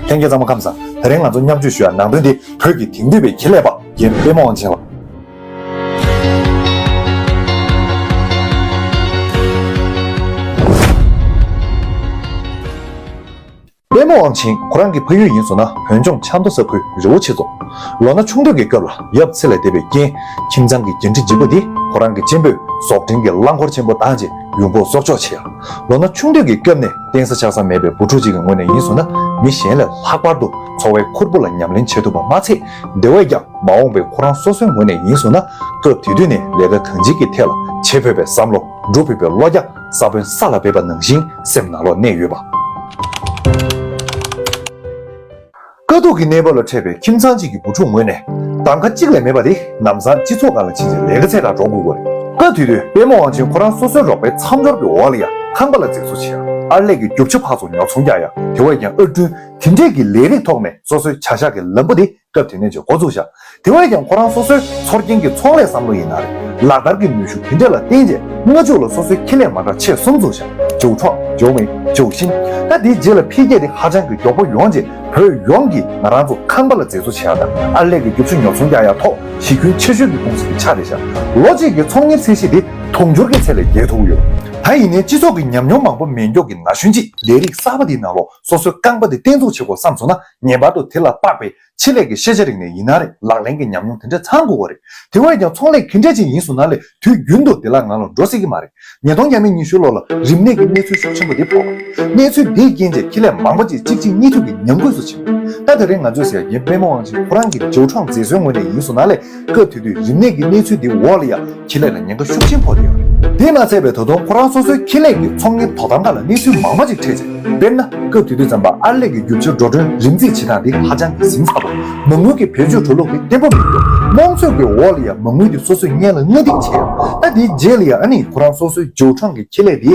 ལྷན་རྒྱས་གཙང་མ་ཁམས་བཟང་ད་རིང་ང་ཚོ་མཉམ་སྤྱོད་ཞུ་ཡ་ནང་དོན་དེ་བོད་ཀྱི་དེང་དུས་པའི་ཁེ་ལས་པ་རྒན་དཔལ་མོ་དབང་ཆེན་ལགས། དཔལ་མོ་དབང་ཆེན་ཁོ་རང་གི་ཕ་ཡུལ་ཡིན་བཟོ་ན་བོད་ལྗོངས་ཆབ་མདོ་ས་ཁུལ་རི་བོ་ཆེ་རྫོང། ལོ་ན་ཆུང་དུས་ཀྱི་སྐབས་ལ་ཡབ་ཚེ་ལས་འདས་པའི་རྐྱེན་ཁྱིམ་ཚང་གི་འགན་འཁྲི་ལྗིད་པོ་དེ་ཁོ་རང་གི་གཅེན་པོས་ཟོག་འདྲེན་གྱི་རླངས་འཁོར་ཆེན་པོ་དང་བཅས་ཡུལ་འགོག་གསོག་འཇོག་བྱས། ལོ་ན་ཆུང་དུས་ཀྱི་སྐྱོབས་ནས་གཏན་ས་ཆགས་ས་མེད་པའི་བུ་ཕྲུག་ཅིག་གི་ངོས་ནས་ཡིན་སོང་ན་མི་གཞན་ལས་ལྷག་པར་དུ་འཚོ་བའི་ཁུར་པོ་ལ་ཉམས་ལེན་བྱེད་ཐུབ་པ་མ་ཚད་དེ་བས་ཀྱང་མ་འོངས་པའི་ཁོ་རང་སོ་སོའི་ངོས་ནས་ཡིན་སོང་ན་སྐབས་དེ་དུས་ནས་ལས་ཀ་གང་སྤྱིའི་ཀྱི་ཐད་ལ་བྱེད་ཕོད་པའི་བསམ་བློ་འགྲོ་ཕོད་པའི་བློ་རྒྱ་ས་བོན་ས་ལ་འབེབས་པ་ནང་བཞིན་སེམས་ནང་ལོག་གནས་ཡོད་པ། དཀའ་སྡུག་གི་གནས་བབ་ལ་འཕྲད་པའི་ཁྱིམ་ཚང་གཅིག་གི་བུ་ཕྲུག་ངོས་ནས་གདམ་ཁ་གཅིག་ལས་མེད་པ་དེ་ནམ་སང་སྤྱི་ཚོགས་ཁག་ལ་ཕྱིན་རྗེས་ལས་ཀ་ཚད་དང་འགྲོགས་དགོས་དགོས་རེད། སྐབས་དེ་དུས་དཔལ་མོ་ཝང་ཆེན་ཁོ་རང་སོ་སོའི་རོགས་པའི་མཚམས་སྦྱོར་གྱི་འོག་ལ་ཡང་ཁང་པ་ལ་འཛེགས་བཟོ་བྱེད་ཨར་ལས་ཀྱི་རྒྱུག་ཆ་ཕག་ཚོ་ཉོ་ཚོང་རྒྱག་ཡང་དེ་བས་ཀྱང་ཨར་སྐྲུན་དེ་འདྲས་ཀྱི་ལས་རིགས་ཐོག་ནས་སོ་སོའི་བྱ་གཞག་གི་ལམ་བུ་དེ་སྐབས་དེ་ནས་ཀྱང་འགོ་བཙུགས་བཞག་དེ་བས་ཀྱང་ཁོ་རང་སོ་སོའི་ཚོར་སྐྱེན་གྱི་ཚོང་ལས་བསམ་བློ་ཡིན་ན་རེད། ལག་བསྟར་གྱི་ནུས་ཤུགས་དེ་འདྲ་ལ་བརྟེན་རྗེས་སྔ་ཕྱུགས་ལ་སོ་སོའི་ཁེ་ལས་མ་འདྲ་ཆེ་གསུམ་འཛུགས་ཤིང་ཇོ་ཁྲོ། ཇོ་མི། ཇོ་ཤིན། ད་དེའི་རྗེས་ལ་འཕེལ་རྒྱས་དེ་ཧ་ཅང་གི་མགྱོགས་པོ་ཡོང་རྗེས་བོད་ཡོངས་ཀྱིས་ང་རང་ཚོ་ཁང་པ་ལ་མཛེས་བཟོ་བྱེད་ཡག་དང་ཨར་ལས་ཀྱི་རྒྱུ་ཆུ་ཉོ་ཚོང་རྒྱག་ཡག་ཐོག་གཞི་ཁྱོན་ཆེ་ཤོས་ཀྱི་ཀུང་སི་དེ་ཆགས་བསྡད་ཤག་ལོ་གཅིག་གི་ཚོང་གཉེར་ཚད་གཞི་དེ་དུང་ཕྱུར་གྱི་ཚད་ལས་བརྒལ་ཐུབ་ཀྱི་ཡོད། ད་ཡིན་ནའི་སྤྱི་ཚོགས་ཀྱི་ཉམས་མྱོང་མང་པོ་མེ་མགྱོགས་ཀྱི་ན་གཞོན་གྱིས་ལས་རིགས་གསར་པ་དེའི་ནང་ལོགས་སོ་སོའི་རྐང་པ་དེ་བརྟན་འཛུགས་བྱེད་དགོས་བསམ་སོང་ན་ངེས་པར་དུ་དེ་ལ་དཔག་པའི་ཆེད་ལས་ཀྱི་ཤེས་བྱ་རིག་གནས་ཡིན་ན་རེད། ལག་ལེན་གྱི་ཉམས་མྱོང་དེ་འདྲས་ཚང་དགོས་པ་རེད། དེ་བས་ཀྱང་ཚོང་ལས་གི་འདྲས་ཅིག་ཡིན་སོང་ན་ལས་དུས་རྒྱུན་དུ་དེ་ལ་ང་ལ་འགྲོ་སྲིད་ཀྱི་མ་རེད། ཉིས་སྟོང་བརྒྱད་མེད་ཉི་ཤུའི་ལོ་ལ་རིམས་ནད་ཀྱི་གནས་ཚུལ་ཤུགས་ཆེན་པོ་དེ་ཕོག་པ་རེད། གནས་ཚུལ་དེའི་རྐྱེན་བྱས་ཁེ་ལས་མང་པོ་ཅིག་གཅིག་རྗེས་གཉིས་མཐུད་ཀྱིས་ཉམས་རྒུད་སུ་ཕྱིན། ད་དེ་རིང་ང་ཚོས་ཟེར་གྱི་རྨས་མ་དབང་ཆེན་ཁོ་རང་གི་ཇའུ་ཁྲང་མཛེས་བཟོའི་ངོས་ནས་ཡིན་སོང་ན་ལས་སྐབས་དེ་དུས་རིམས་ནད་ཀྱི་གནས་ཚུལ་འདིའི་འོག་ལ་ཡང་ཁེ་ལས་ལ་ཉེན་ཁ་ཤུགས་ཆེན་ཕོག་ཡོད་རེད། དེས་ན་ཚད་པའི་ད་དུང་ཁོ་རང་སོ་སོའི་ཁེ་ལས་ཀྱི་ཚོང་གཉེར་དོ་དམ་ཁག་ལ་གནས་ཚུལ་མང་མང་ཅིག་འཕྲད་ཚེ། དཔེར་ན། སྐབས་དེ་དུས་རྩམ་པ་ཨར་ལས་ཀྱི་རྒྱུ་ཆར་འགྲོ་གྲོན་རིམ་རྩིས་བྱེད་སྟངས་དེ་ཧ་ཅང་གི་ཟིང་ཚགས་པ། མ་དངུལ་གྱི་བེད་སྤྱོད་འགྲོ་ལུགས་དེ་བརྟན་པོ་མི་འདུག་དམངས་འཚོད་ཀྱི་འོག་ལ་ཡང་མ་དངུལ་དེ་སོ་སོས་བརྙན་ལ་སྔ་སྡིག་བྱས་ཡོད། ད་དེའི་རྗེས་ལ་ཡང་ཨ་ནི་ཁོ་རང་སོ་སོའི་ཇོ་ཁྲང་གི་ཁེ་ལས་དེའི་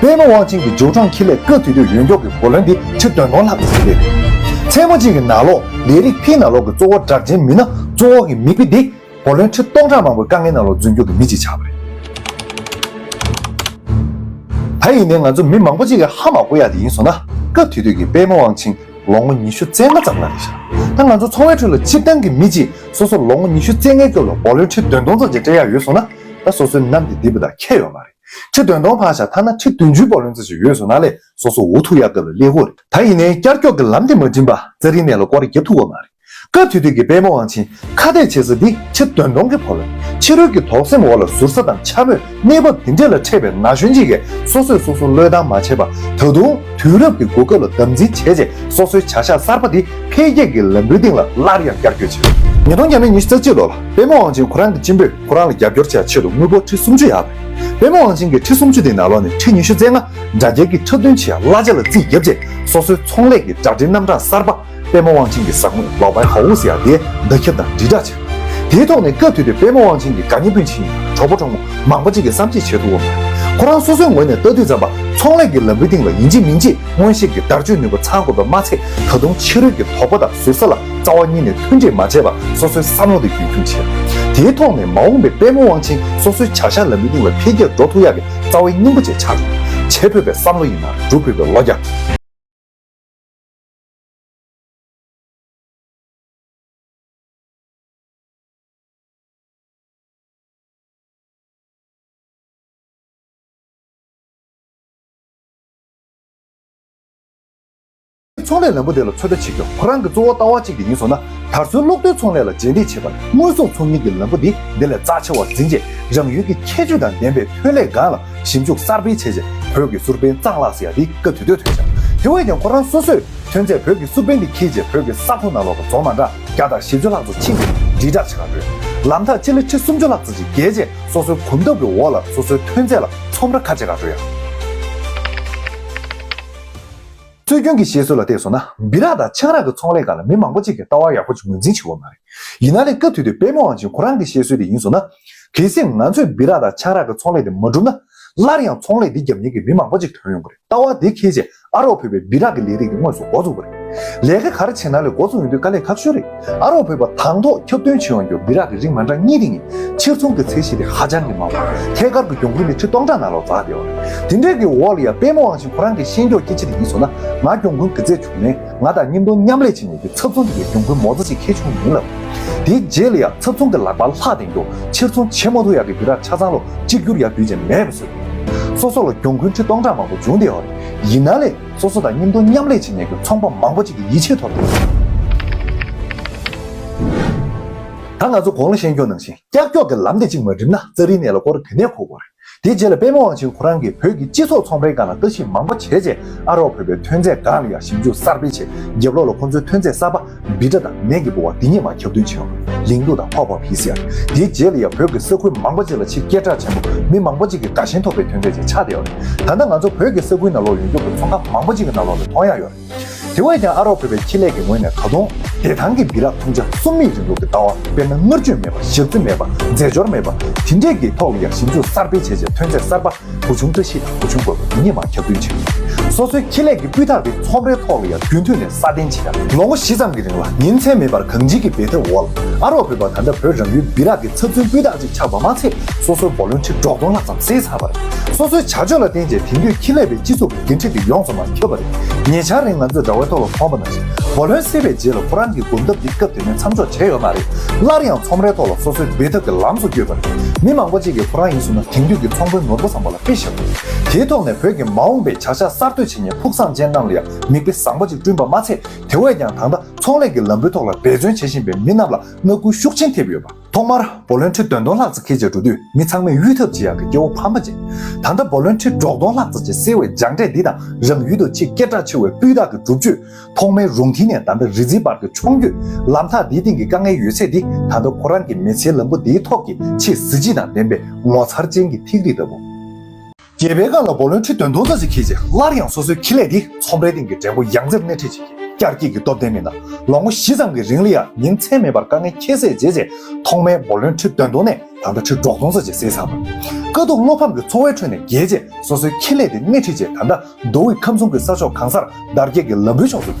དཔོན་མོ་ཝང་ཆིང་གིས་ཇོ་ཁྲོང་ཁེ་ལས་སྐབས་དུས་དུས་ཡོན་ཀྱོག་གི་བུ་ལོན་འདི་ཕྱིར་འདོན་གཏོང་ལྷག་ཏུ་བྱེད་འདོད་ཡོད། མཚན་མོ་གཅིག་གི་ནང་ལོག་ལས་རིགས་ཕིན་ནང་ལོག་གི་གཙོ་བོ་གྲགས་ཅན་མི་སྣ་གཙོ་འོག་གི་མི་དཔེ་འདི་བུ་ལོན་ཁྲི་སྟོང་ཕྲག་མང་པོའི་དཀའ་ངལ་ནང་ལོག་རྫུན་སྐྱོར་གྱི་མི་གཅིག་ཆགས་པ་རེད། ད་ཡིན་ནའི་ང་ཚོ་མི་མང་པོ་གཅིག་གིས་ཧ་མ་གོ་ཡག་དེ་ཡིན་སོང་ན་སྐབས་དུས་དུས་ཀྱི་དཔོན་མོ་ཝང་ཆིང་ལོ་ངོ་ཉི་ཤུ་རྩེ་ལྔ་ཙམ་ལ་རེ་བཞག་ད་ང་ཚོ་ཚོང་བའི་ཁྲོད་ལ་སྤྱིར་བཏང་གི་མི་གཅིག་སོ་སོར་ལོ་ངོ་ཉི་ཤུ་རྩེ་ལྔའི་སྐབས་ལ་བུ་ལོན་ཁྲི་བདུན་སྟོང་ཚོ་བརྒྱད་སྤྲད་ཡག་ཡོད་སོང་ན་ད་སོ་སོའི་ནམ་དེ་འདི་པོ་དང་ཁྱད་ཡོད་མ་རེད། ཁྲི་བདུན་སྟོང་ཕག་ཞག་ཐ་ན་ཁྲི་བདུན་ཅུའི་བག་ལེན་རྩ་ཆུ་ཡོས་སོ་ན་ལས་སོ་སོ་འུ་ཐུག་ཡ་གབ་ལ་ལེ་ཧོ་རེད། ད་ཡིན་ནའི་བསྐྱར་སྐྱོག་གི་ལམ་དེ་མ་བྲིན་པ་རྩ་རིའི་གནས་ལ་སྐོར་རྒྱབ་ཐུག་བ་མ་རེད། སྐབས་དེ་དུས་ཀྱི་པད་མོ་དབང་ཆེན་ཁ་གཏད་བྱེད་ས་འདི་ཁྲི་བདུན་སྟོང་གི་བག་ལེན་ཕྱི་རོལ་གྱི་དོགས་སེམས་འོག་ལ་ཟུར་ཟ་དང་འཕྱ་དམོད་གནས་བབ་འདི་འདྲས་ལ་འཕྲད་པའི་ན་གཞོན་གཅིག་གས་སོ་སོས་སོ་སོ་བློས་བཏང་མ་བྱས་པར་ད་དུང་དུས་རབས་ཀྱི་གོ་སྐབས་ལ་དམ་འཛིན་བྱས་རྗེས་སོ་སོའི་བྱ་གཞག་གསར་པ་འདི་འཕེལ་རྒྱས་ཀྱི་ལམ་བུའི་སྟེང་ལ་སླར་ཡང་བསྐྱར་སྐྱོད་བྱས། ཉིས་སྟོང་བརྒྱད་མའི་ཉི་ཤུ་རྩ་གཅིག་ལོར་པད་མོ་དབང་ཆེན་ཁོ་རང་གི་གཅེན་པོས་ཁོ་རང་ལ་རྒྱབ་སྐྱོར་བྱེད་པའི་ཆེད་དུ་དངུལ་སྒོར་ཁྲི་སུམ་ཅུ་ཡར་བས། པད་མ་དབང་ཆེན་གྱིས་ཁྲི་སུམ་ཅུ་དེའི་ནང་ལོགས་ནས་ཁྲི་ཉི་ཤུ་རྩེ་ལྔ་དགྲ་རྒྱལ་གྱི་འཁྲབ་སྟོན་བྱེད་གླ་ཆ་ལ་རྩིས་བརྒྱབ་རྗེས་སོ་སོའི་ཚོང་ལས་ཀྱི་སྦྲག་སྒྲིལ་རྣམ་གྲངས་གསར་པ། པད་མ་དབང་ཆེན་གྱི་ཟབ་དངོས་ལོག་པའི་ཧོ་ཧུ་སི་ཡ་དེའི་བརྡ་ཁྱབ་དང་དྲིལ་བསྒྲགས་བྱས། དེའི་ཐོག་ནས་སྐབས་དུས་དུས་པད་མ་དབང་ཆེན་གྱི་དགའ་ཉེ་སྤུན་མཆེད་ཡིན་གྲོགས་པོ་གྲོགས་མོ་མང་པོ་ཅིག་གིས་བསམ་ཤེས་བྱེད་ཐུབ་བམ། ཁོ་རང་སོ་སོའི་ངོས་ནས་ལྟ་དུས་ཙམ་པ་ཚོང་ལས་ཀྱི་ལམ་བུའི་སྟེང་ལ་ཡིན་གཅིག་མིན་གཅིག་སྔོན་གཤེགས་ཀྱི་བརྡར་གཅོད་ནུས་པ་ཚང་དགོས་པ་མ་ཚད་ད་དུང་ཕྱི་རོལ་གྱི་དོགས་པ་དང་ཟུར་ཟ་ལ་རྩ་བ་གཉིས་ནས་མཐུན་འབྲེལ་མ་བྱས་པར་སོ་སོའི་བསམ་བློ་དེ་རྒྱུན་འཁྱོངས་བྱས། དེའི་ཐོག་ནས་མ་འོངས་པའི་དཔལ་ལོ་དབང་ཆེན་སོ་སོའི་བྱ་གཞག་ལམ་བུའི་སྟེང་ལ་འཕེལ་རྒྱས་འགྲོ་ཐུབ་ཡག་གི་རྩ་བའི་སྙིང་པོ་བཅས་ཆགས་ཡོད། བྱེད་ཕོད་པའི་བསམ་བློ་ཡིན་ན་སྒྲུབ་ཕོད་པའི་བློ་རྒྱ། ཚོང་ལས་ལམ་བུ་དེ་ལ་ཚོད་ལྟ་བྱེད་རྒྱུ་ཁོ་རང་གི་གཙོ་བོ་ལྟ་བ་གཅིག་དེ་ཡིན་སོང་ན། དར་མཚོའི་གློག་རྡུལ་ཚོང་ལས་ལ་རྗེས་འདེད་བྱེད་པར་དངོས་ཟོག་ཚོང་གཉེར་གྱི་ལམ་བུ་དེ་དེ་ལས་རྩ་ཆེ་བར་འཛིན་རྗེས་རང་ཡུལ་གྱི་ཁྱད་ཆོས་དང་ལྡན་པའི་ཐོན་ལས་སྒང་ལ་ཞིབ་འཇུག་གསར་སྤེལ་བྱས་རྗེས་བོད་ཀྱི་སུར་པན་གཙང་ལགས་སུ་ཡང་དེ་སྐབས་དུས་སྟོད་ཐོན་ཞིང། དེ་བས་ཀྱང་ཁོ་རང་སོ་སོས་ཐོན་རྫས་བོད་ཀྱི་སུར་པན་དེ་འཁྱེར་རྗེས་བོད་ཀྱི་ས་ཁོངས་ནང་ལོགས་ཀྱི་རྫོང་མ་འདྲ་བརྒྱ་དང་བཞི་བཅུ་ལྷག་ཙུག་ཕྱིན་ཏེ་དྲིལ་བསྒྲགས་བྱེད་ཁག་བགྲོད། ལམ་ཐག་སྤྱི་ལེ་ཁྲི་སུམ་ཅུ་ལྷག་ཙུག་ཅིག་བརྒལ་རྗེས་སོ་སོའི་གོམ་སྟབས་ཀྱི་འོག་ལ་སོ་སོའི་ཐོན་རྫས་ལ་ཚོམས་ར་ཁ་ཕྱེ་ཁག་བགྲོད་ཡང། སྲོལ་རྒྱུན་གྱི་བཤད་སྲོལ་ལ་བལྟས་སོང་ན་སྦི་རག་དང་ཆང་རག་གི་ཚོང་ལས་ཁང་ལ་མི་མང་པོ་ཅིག་གིས་ལྟ་བ་ཡག་པོ་ཅིག་ངོས་འཛིན་བྱེད་འོས་མ་རེད། ཡིན་ན་ལས་སྐབས་དུས་དུས་པད་མོ་ཝང་ཅིན་ཁོ་རང་གི་བཤད་སྲོལ་དེ་ཡིན་སོང་ན། གལ་སྲིད་ང་ཚོས་སྦི་རག་དང་ཆང་རག་གི་ཚོང་ལས་དེ་མ་བསྒྲུབས་ན། སླར་ཡང་ཚོང་ལས་འདི་རྒྱབ་ཉེན་གྱི་མི་མང་པོ་ཅིག་དོན་ཡོང་གི་རེད་ལྟ་བ་དེ་ཁེལ་རྗེས་ཨ་རོགས་ཕུད་པའི་སྦི་རག་གི་ལས་རིགས་དེ་དངོས་སུ་འགོ་བཙུགས་པ་རེད། ལས་ཀ་ག་རེ་བྱས་ན་ལས་འགོ་བཙུགས་ཡོང་དུས་དཀའ་ལས་ཁག་ཤོས་རེད། ཨ་རོགས་བོད་པ་དང་ཐོག་ཁྱབ་སྟོན་བྱེད་འོང་རྒྱུར་སྦི་རག་གི་རིགས་མ་འདྲ་གཉིས་རིགས་ནི་ཕྱིར་ཚོང་གི་ཚད་གཞི་དེ་ཧ་ཅང་གི་མང་བ། ཐད་ཀར་གྱི་གྱོང་གུན་ནི་ཁྲི་སྟོང་ཕྲག་ནང་ལོག་འཛག་བདེ་བ་རེད། དེ་འདྲའི་གི་འོག་ལ་ཡང་པད་མོ་དབང་ཞིང་ཁོ་རང་གི་ཤེས་མགྱོགས་སྐྱེ་ཆེ་དེ་ཡིན་སོང་ན་ང་གྱོང་གུན་གི་ཚད་བྱུང་ནས་ང་དང་གཉིས་མདོ་མཉམ་ལས་བྱེད་ནས་ཀྱི་ཚབ་ཚོང་གི་གྱོང་གུན་མོ་རྩ་ཞིག་ཁེལ་བྱུང་ཡིན་ལབ། དེའི་རྗེས་ལ་ཡང་ཚབ་ཚོང་གི་ལག་པ་ལྷག་དེང་དུ་ཕྱིར་ཚོང་བྱེད་མོ་ཐུག་ཡག་གི་སྦི་རག་ཆ་ཚང་ལོ་གཅིག་གྱུར་ཡག་དུས་ཅན་མེད་པ་བཟོས། སོ་སོ་ལ་གྱོང་གུན་ཁྲི་སྟོང་ཕྲག་མང་པོ་འབྱུང་བདེ་བ་རེད། ཡིན་ན་ལས། སོ་སོ་དང་གཉེན་འཐུང་མཉམ་ལས་བྱེད་མྱེད་ཀྱི་ཚོང་པ་མང་པོ་གཅིག་གི་ཡིད་ཆེས་ཐོབ་ཡོད། ད་ང་ཚོ་གོང་ལ་ཤེས་འཁྱོག་ནང་བཞིན་ཀྱག་ཀྱོག་གི་ལམ་དེ་གཅིག་མ་བསྒྲིམས་ན་རྩ་རིའི་གནས་ལ་སྐོར་དེ་ནས་གོ་དགོས་རེད། དེའི་རྗེས་ལ་པད་མ་དབང་ཆེན་ཁོ་རང་གིས་བོད་ཀྱི་སྤྱི་ཚོགས་ཚོང་པའི་སྒང་ལ་ལྟ་ཞིབ་མང་པོ་བྱས་རྗེས་ཨ་རོགས་བོད་པའི་ཐོན་རྫས་འགའ་ལ་ཡང་ཞིབ་འཇུག་གསར་སྤེལ་བྱས་རྗེས་བློ་ལ་ཁོང་ཚོའི་ཐོན་རྫས་གསར་པ་སྦི་སྒྲ་དང་ནས་ཀྱི་སྤོ་བ་འདི་གཉིས་མ་ཁྱབ་སྟོན་བྱེད་པ། ལིང་ཏུ་དང་ཕག་ཕག་བྷི་སི་ཨར། དེའི་རྗེས་ལ་ཡང་བོད་ཀྱི་ས་ཁུལ་མང་པོ་ཅིག་ལ་ཆེས་སྐད་གྲགས་ཆེན་པོ་མི་མང་པོ་ཅིག་གིས་དགའ་ཞེན་ཐོབ་པའི་དོན་དེ་ཅིག་ཆགས་བསྡད་ཡོད་རེད། ད་ལྟ་ང་ཚོ་བོད་ཀྱི་ས་ཁུལ་ནང་ལོག་ཡོང་རྒྱུ་དང་ཚོང་ཁང་མང་པོ་ཅིག་གི་ནང་ལོག་ལ་མཐོང་ཡག་ཡོད་རེད། དེ་བས་ཀྱང་ཨ་རོགས་བོད་པའི་ཁེ་ལས་ཀྱི་ངོས་ནས་ད་དུང། བདེ་ཐང་གི་སྦི་རག་འཐུང་བྱ་གསུམ་མིའི་རིང་ལུགས་ཀྱི་ལྟ་བ་དཔེར་ན་དངུལ་བཅོལ་མེད་པ་ཞབས་རྩི་མེད་པ་རྫས་སྦྱོར་མེད་པ་དེ་འདྲས་ཀྱིས་ཐོག་ལ་ཡང་ཞིབ་འཇུག་གསར་སྤེལ་བྱས་རྗེས་ཐོན་རྫས་གསར་པ་བུ་ཆུང་བཀྲ་ཤིས་དང་བུ་ཆུང་དགོན་པ་འདི་གཉིས་མང་ཁྱབ་སྟོན་བྱེད་ཀྱི་ཡོད། སོ་སོའི་ཁེ་ལས་ཀྱི་སྤུས་དག་གི་ཚོང་རའི་ཐོག་ལ་ཡང་རྒྱུན་མཐུད་ནས་སྲ་བརྟན་བྱེད་ཀ་མེད། ལོ་ངོ་བཞི་ཙམ་གྱི་རིང་ལ་ཉིན་མཚན་མེད་པར་གངས་སྐྱིད་ཀྱི་འབད་འཐབ་འོག་ལ་ཨ་རོགས་བོད་པ་ད་ལྟ་བོད་རང་ཡུལ་སྦི་རག་གི་ཚབ་མཚོན་སྤུས་དག་ཅིག་ཆགས་པ་མ་ཚད་སོ་སོའི་འབོར་ལོན་ཁྲི་གྲོགས་སྟོང་ལྷག་ཙམ་བསྲེས་ཚར་བར། སོ་སོའི་བྱ་སྤྱོད་ལ་བརྟེན་རྗེས་དེང་དུས་ཁེ་ལས་པའི་སྤྱི་ཚོགས། འགན་འཁྲི་དེ་ཡོངས་སུ་མ་འཁྱོལ་བ་རེད། ཉེ་ཆར་རིང་ང་ཚོས་དགྲ་བོའི་ཐོག་ལ་ཚོང་པ་ན་བཞིན་བུ་ལོན་བསྲེས་པའི་རྗེས་ལ་ཁོ་རང་གི་སྒོམ་ཐབས་འདི་སྐབས་དེ་ནས་མཚམས་འཇོག་བྱས་ཡོད་མ་རེད། སླར་ཡང་ཚོང་རའི་ཐོག་ལ་སོ་སོའི་འབད་འཐབ་ཀྱི་ལམ་སོགས་བསྐྱོད་པ་རེད། མི་མང་པོ་ཅིག་གིས་ཁོ་རང་ཡིན་ཟུར་ན་དེང་དུས་ཀྱི་ཚོང་དཔོན་ནོར་བུ་བཟང་པོ་ལ་དཔེ་ཞིག་རེད། དེའི་ཐོག་ནས་བོད་ཀྱི་མ་འོངས་པའི་བྱ་གཞག་གསར་གཏོད་བྱེད་ཉིན་ཕུགས་བསམ་ཅན་རྣམས་ལ་ཡང་མིག་དཔེ་བཟང་པོ་ཅིག་བསྐྲུན་པ་མ་ཚད་དེ་བས་ཀྱང་ད་ལྟ་ཚོང་ལས་ཀྱི་ལམ་བུའི་ཐོག་ལ་འབད་བརྩོན་བྱེད་བཞིན་པའི་མི་རྣམས་ལ་བསྔགས་སྐུལ་ཤུགས་ཆེན་ཐེབས་ཡོད་པ། ཐོག་མར་བོ་ལོན་ཁྲི་དོན་སྟོང་ལྷག་ཙག་འཁེལ་བྱས་འགྲོ་དུས་མི་ཚང་མས་གཡུལ་འཐབ་བྱེད་ཡག་གི་སྐྱེ་བོ་ཕམ་པ་ཅན། ད་ལྟ་བོ་ལོན་ཁྲི་འབྲོག་སྟོང་ལྷག་ཙག་ཅེས་གསལ་བའི་སྦྱངས་འབྲས་འདི་དང་རང་ཡུལ་དུ་ཆེས་སྐད་གྲགས་ཆེ་བའི་སྤུས་དག་གི་སྒྲུབ་བཅོས། ཐོག་མའི་རུང་མཐིལ་ནས་ད་ལྟ་རི་རྩེའི་བར་གྱི་མཆོང་སྐྱོད། ལམ་ཐག་འདིའི་སྟེང་གི་དཀའ་ངལ་ཡོད་ཚད་འདི་ད་ལྟ་ཁོ་རང་གི་མི་ཚེའི་ལམ་བུ་འདིའི་ཐོག་གི་ཆེས་གཟི་བརྗིད་དང་ལྡན་པའི་ངོ་མཚར་ཅན་གྱི་ཐིག་རིས་ལྟ་བུ། རྒྱལ་བའི་བཀའ་ལ་བོགས་ལོན་ཁྲི་བདུན་སྟོང་རྩ་གཅིག་ཁེལ་རྗེས་སླར་ཡང་སོ་སོའི་ཁེ་ལས་དེ་ཚོང་པའི་སྟེང་གི་འགྲེང་བུ་ཡང་རྩེར་སྣེ་ཁྲིད་བྱེད་ཀྱི་བསྐྱར་སྐྱེས་ཀྱི་སྟོབས་ལྡན་མི་སྣ་ལོ་ངོ་བཞི་ཙམ་གྱི་རིང་ལ་ཡང་ཉིན་མཚན་མེད་པར་དཀའ་ངལ་ཁྱད་བསད་བྱས་རྗེས་ཐོག་མའི་བོགས་ལོན་ཁྲི་བདུན་སྟོང་ནས་ད་ལྟ་ཁྲི་གྲོགས་སྟོང་རྩ་གཅིག་གསལ་ཚར། དཀའ་སྡུག་བློ་ཕམ་གྱི་འཚོ་བའི་ཁྲོད་ནས་རྒྱལ་རྗེས་སོ་སོའི་ཁེ་ལས་དེ་སྣེ་ཁྲིད་རྗེས་ད་ལྟ་མདོ་དབུས་ཁམས་གསུམ་གྱི་ས་ཕྱོགས་གང་སར་དར་རྒྱས་ཀྱི་ལམ་བུའི་ཕྱོགས་སུ་བསྐྱོད།